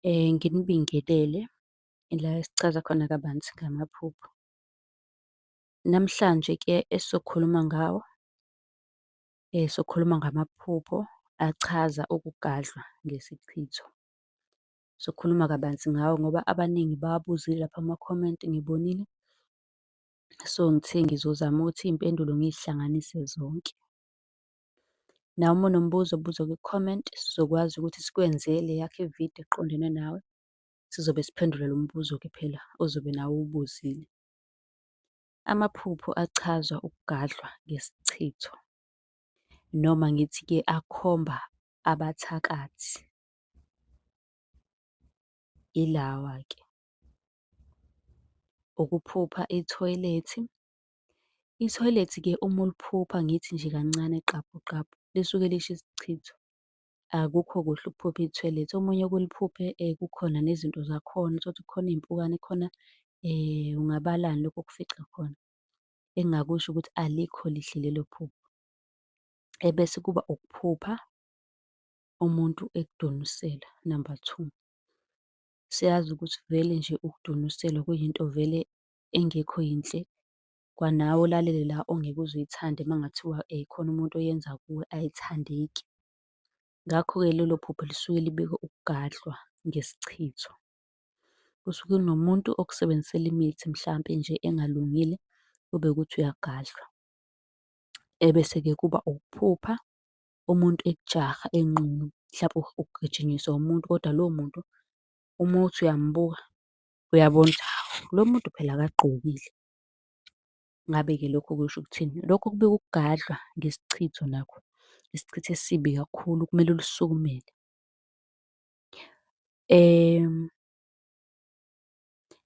Eh, nginibingelele ila esichaza khona kabanzi ngamaphupho. Namhlanje ke esizokhuluma ngawo, eh, sokhuluma ngamaphupho achaza ukugadlwa ngesichitho. Sokhuluma kabanzi ngawo ngoba abaningi bawabuzile lapha ama-comment ngibonile. So, ngithe ngizozama ukuthi iy'mpendulo ngiy'hlanganise zonke. Nawe uma unombuzo buza kwi-comment, sizokwazi ukuthi sikwenzele eyakho i-video eqondene nawe. Sizobe siphendula lo mbuzo-ke phela ozobe nawe uwubuzile. Amaphupho achazwa ukugadlwa ngesichitho, noma ngithi-ke akhomba abathakathi. Ilawa-ke, ukuphupha ithoyilethi, Ithoyilethi ke uma uliphupha ngithi nje kancane qabhu qabhu lisuke lisho isichitho. Akukho kuhle ukuphupha ithoyilethi. Omunye oke uliphuphe kukhona nezinto zakhona, uthole ukuthi kukhona iy'mpukane khona ungabalani lokhu okufica khona. Engingakusho ukuthi alikho lihle lelo phupho. Ebese kuba ukuphupha umuntu ekudonusela, number two. Siyazi ukuthi vele nje ukudonuselwa kuyinto vele engekho yinhle, kwanawe olalele la ongeke uze uyithande uma kungathiwa khona umuntu oyenza kuwe ayithandeki. Ngakho-ke lelo phupho lisuke libeka ukugadlwa ngesichitho. Kusuke kunomuntu okusebenzisela imithi mhlampe nje engalungile, kube ukuthi uyagadlwa. Ebese-ke kuba ukuphupha umuntu ekujaha enqunu, mhlampe ugijinyiswa umuntu kodwa lowo muntu uma uthi uyambuka, Uyabona ukuthi hhawu, lo muntu phela akagqokile. Ngabe-ke lokho kusho ukuthini? Lokho kubika ukugadlwa ngesichitho nakho, isichitho esibi kakhulu okumele ulisukumele.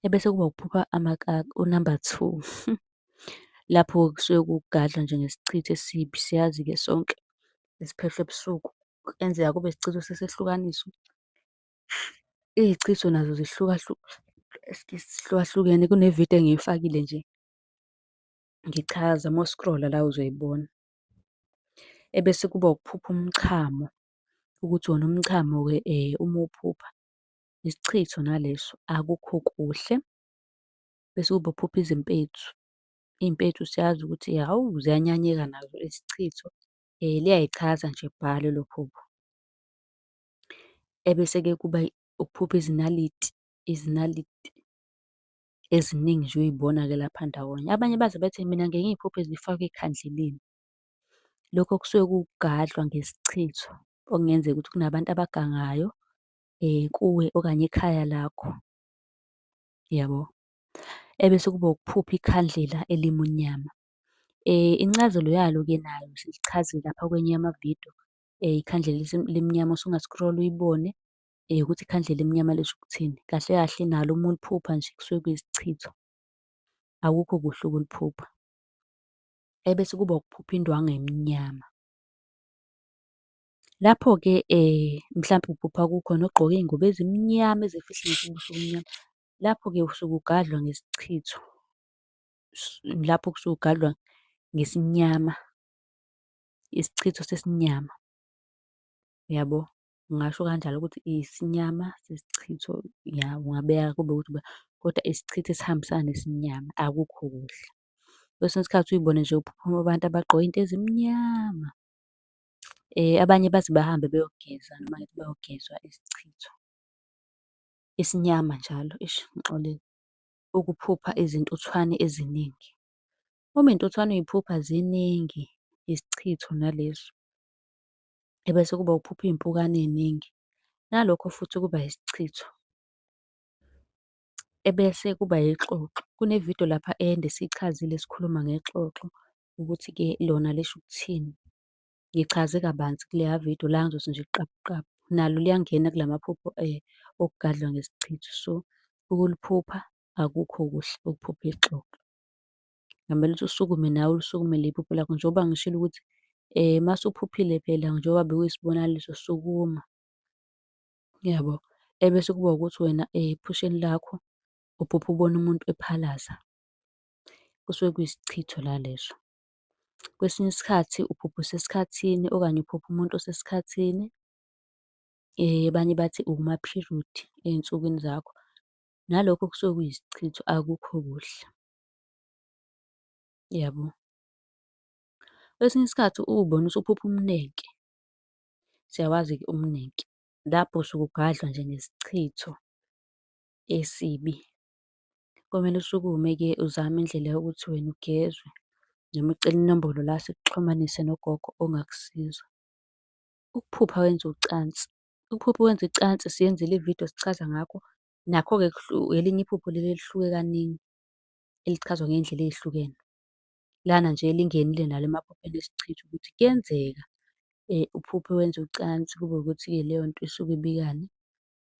Ebese kuba ukuphupha amakaka, unamba two. Lapho kusuke kugadlwa nje ngesichitho esibi, siyazi-ke sonke esiphehlwa ebusuku. Kuyenzeka kube isichitho sesehlukaniso. Iy'chitho nazo zihlukahlukene kune-video engiyifakile nje ngichaza uma u-scroll-a la uzoyibona. Ebese kuba ukuphupha umchamo, ukuthi wona umchamo-ke uma uwuphupha isichitho naleso akukho kuhle. Bese kuba ukuphupha izimpethu, iy'mpethu siyazi ukuthi hhawu ziyanyanyeka nazo izichitho. Liyay'chaza nje bhala elo phupho. Ebese-ke kuba ukuphupha izinaliti, izinaliti eziningi nje uy'bona-ke lapha ndawonye. Abanye baze bethi mina ngiye ngiy'phuphe zifakwe ekhandleleni. Lokho kusuke kuwukugadlwa ngesichitho, okungenzeka ukuthi kunabantu abagangayo kuwe okanye ekhaya lakho, yabo. Ebese kuba ukuphupha ikhandlela elimunyama. Incazelo yalo-ke nayo silichazile lapha kwenye yamavidiyo, um ikhandlela elimnyama usunga-scroll uyibone um ukuthi ikhandlela elimnyama lisho ukuthini. Kahle kahle nalo uma uliphupha nje kusuke kuyisichitho, akukho kuhle ukuliphupha. Ebese kuba ukuphupha indwangu emnyama. Lapho-ke um mhlampe uphupha kukhona ogqoke iy'ngubo ezimnyama ezifihla ngisho ubuso obumnyama. Lapho-ke usuke ugadlwa ngesichitho, lapho kusuke ugadlwa ngesinyama. isichitho sesinyama. Uyabo? Ngingasho kanjalo ukuthi isinyama sesichitho, ya ungabeka kube ukuthi uba kodwa isichitho esihambisana nesinyama akukho kuhle. Kwesinye isikhathi uyibone nje kuphuphuma abantu abagqoke iy'nto ezimnyama. Abanye baze bahambe beyogeza noma ngithi bayogezwa isichitho esinyama njalo, eish ngixolele. Ukuphupha izintuthwane eziningi. Uma intuthwane uyiphupha ziningi isichitho nalezo. Ebese kuba ukuphupha iy'mpukane ey'ningi, nalokho futhi kuba isichitho. Ebese kuba ixoxo, kune-video lapha ende siyichazile sikhuluma ngexoxo ukuthi-ke lona lisho ukuthini. Ngichaze kabanzi kuleya video la ngizothi nje qabu qabu. Nalo liyangena kula maphupho okugadlwa ngesichitho. So, ukuliphupha akukho kuhle ukuphupha ixoxo. Ngamele ukuthi usukume nawe ulisukumele iphupho lakho njengoba ngishilo ukuthi um uma usuphuphile phela njengoba bekuyisibonakaliso sukuma. Yabo? Ebese kuba ukuthi wena ephusheni lakho uphupha ubona umuntu ephalaza. Kusuke kuyisichitho la leso. Kwesinye isikhathi uphupha usesikhathini okanye uphupha umuntu osesikhathini. Abanye bathi ukuma-period ey'nsukwini zakho. nalokho kusuke kuyisichitho akukho kuhle. Yabo? Kwesinye isikhathi uwubona usuphupha umnenke, siyawazi-ke umnenke. Lapho usuke ugadlwa nje ngesichitho esibi. Komele usukume-ke uzame indlela yokuthi wena ugezwe, noma ucele inombolo la sikuxhumanise nogogo ongakusiza. Ukuphupha wenza ucansi Iphupho wenza icansi siyenzile ividiyo sichaza ngakho. Nakho-ke elinye iphupho leli elihluke kaningi, elichazwa ngey'ndlela ey'hlukene. Lana nje elingenile nalo emaphupheni esichitha ukuthi kuyenzeka uphuphe wenza ucansi kube ukuthi-ke leyo nto isuke ibikani?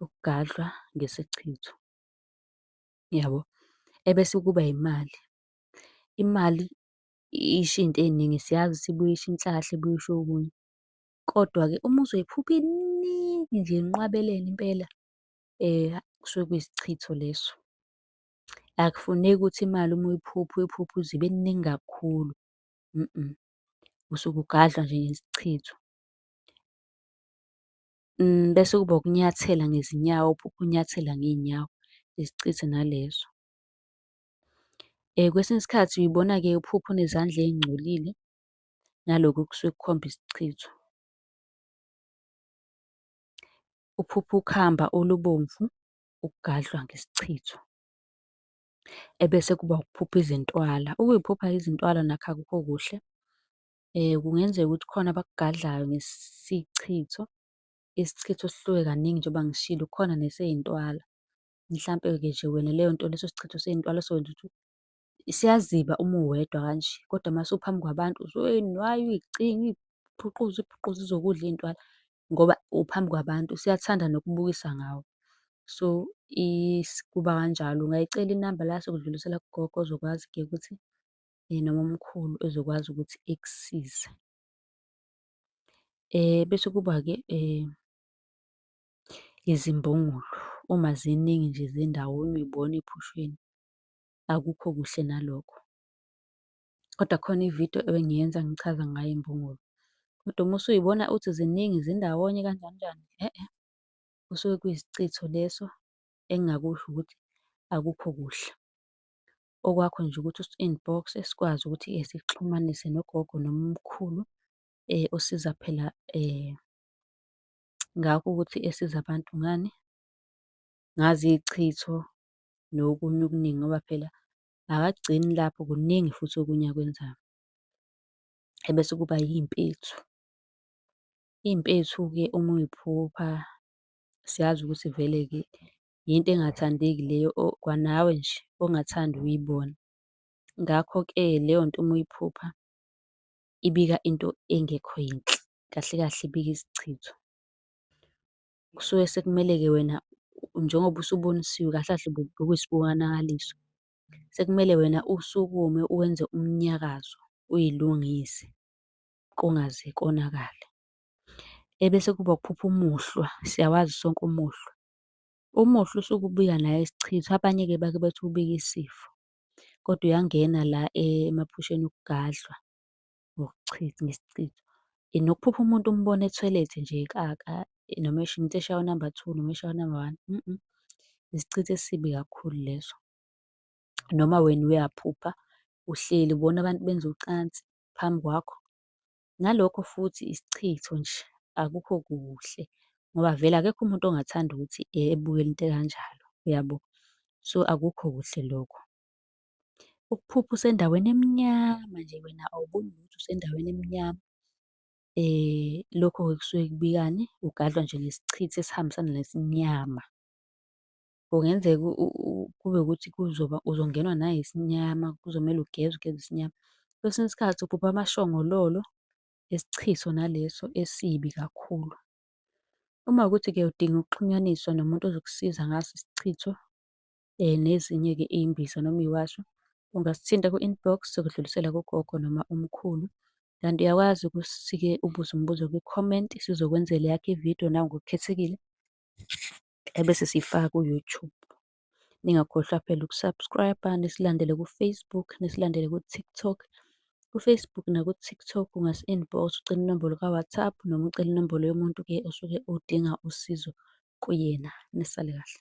Ukugadlwa ngesichitho, yabo. Ebese kuba imali, imali isho iy'nto ey'ningi siyazi ukuthi ibuye isho inhlahla, ibuye isho okunye. Kodwa-ke uma uzoyiphupha iningi nje inqwabelene impela kusuke kuyisichitho leso. Akufuneki ukuthi imali uma uyiphupha uyiphuphe uze ibe ningi kakhulu, usuke ugadla nje ngesichitho. Bese kuba ukunyathela ngezinyawo, uphuphe unyathela ngey'nyawo, isichitho naleso. Kwesinye isikhathi uy'bona-ke uphupha unezandla ey'ngcolile, nalokhu kusuke kukhomba isichitho. Uphupha ukhamba olubomvu ukugadlwa ngesichitho. Ebese kuba ukuphupha izintwala. Ukuy'phupha izintwala nakho akukho kuhle. Kungenzeka ukuthi khona abakugadlayo ngesichitho. Isichitho sihluke kaningi njengoba ngishilo, kukhona nesey'ntwala. Mhlampe-ke nje wena leyo nto leso sichitho sey'ntwala sokwenza ukuthi Isiyaziba uma uwedwa kanje, kodwa uma usuphambi kwabantu uzoyinwaya uyicinge, uyiphuquze uyiphuquze ize yokudla iy'ntwala ngoba uphambi kwabantu. Usuyathanda nokubukisa ngawe. So, kuba kanjalo. Ungayicela inamba la sokudlulisela kugogo ozokwazi-ke ukuthi noma umkhulu ezokwazi ukuthi ekusize. Bese kuba-ke izimbongolo, uma ziningi nje zindawonye uy'bona ey'phusheni. akukho kuhle nalokho. Kodwa khona ividiyo ebengiyenza ngichaza ngayo imbungulu. Kodwa uma usuyibona uthi ziningi zindawonye kanjani njani, e-e, kusuke kuyisichitho leso engingakusho ukuthi akukho kuhle. Okwakho nje ukuthi usi-inbox sikwazi ukuthi sikuxhumanise nogogo noma umkhulu osiza phela ngakho ukuthi esiza abantu ngani, ngazi iy'chitho nokunye okuningi ngoba phela akagcini lapho kuningi futhi okunye akwenzayo. Ebese kuba iy'mpethu. Iy'mpethu-ke uma uy'phupha siyazi ukuthi vele-ke yinto engathandeki leyo kwanawe nje ongathandi ukuyibona. Ngakho-ke leyo nto uma uyiphupha ibika into engekho yinhle, kahle kahle ibika isichitho. kusuke sekumele-ke wena njengoba usubonisiwe kahle kahle bokuyisibonakaliso. Sekumele wena usukume uwenze umnyakazo uyilungise kungaze konakale. Ebese kuba ukuphupha umuhlwa, siyawazi sonke umuhlwa. Umuhlwa usuke ubuya naye isichitho, abanye-ke bake bethi ubika isifo, kodwa uyangena la emaphusheni okugadlwa. ngokuchitha ngesichitho. Nokuphupha umuntu umbone ethoyilethe nje ekaka noma esho umuntu eshaya unamba two noma eshaya unamba one isichitho esibi kakhulu leso. Noma wena uyaphupha uhleli ubona abantu benza ucansi phambi kwakho. Nalokho futhi isichitho nje, akukho kuhle ngoba vele akekho umuntu ongathanda ukuthi ebukele into ekanjalo, uyabo? So, akukho kuhle lokho. Ukuphupha usendaweni emnyama nje wena awuboni lutho usendaweni emnyama. Lokho-ke kusuke kubikani? Ugadlwa nje ngesichithi esihambisana nesinyama. Kungenzeka kube ukuthi kuzoba uzongenwa nayisinyama, kuzomele ugeze ugeze isinyama. Kwesinye isikhathi uphupha amashongololo esichithi sona leso esibi kakhulu. Uma kuwukuthi-ke udinga ukuxhunyaniswa nomuntu ozokusiza ngaso isichitho, eh, nezinye-ke iy'mbiza noma iy'washo, ungasithinta ku-inbox sokudlulisela kugogo noma umkhulu. Kanti uyakwazi ukusike ubuze umbuzo kwi-comment sizokwenzela eyakho ividiyo nawe ngokukhethekile ebese siyifaka ku-YouTube. Ningakhohlwa phela uku-subscribe-a, nisilandele ku-Facebook, nisilandele ku-TikTok. KuFacebook nakuTikTok ungasi-inbox ucela inombolo ka-WhatsApp noma ucela inombolo yomuntu-ke osuke udinga usizo kuyena. Nisale kahle.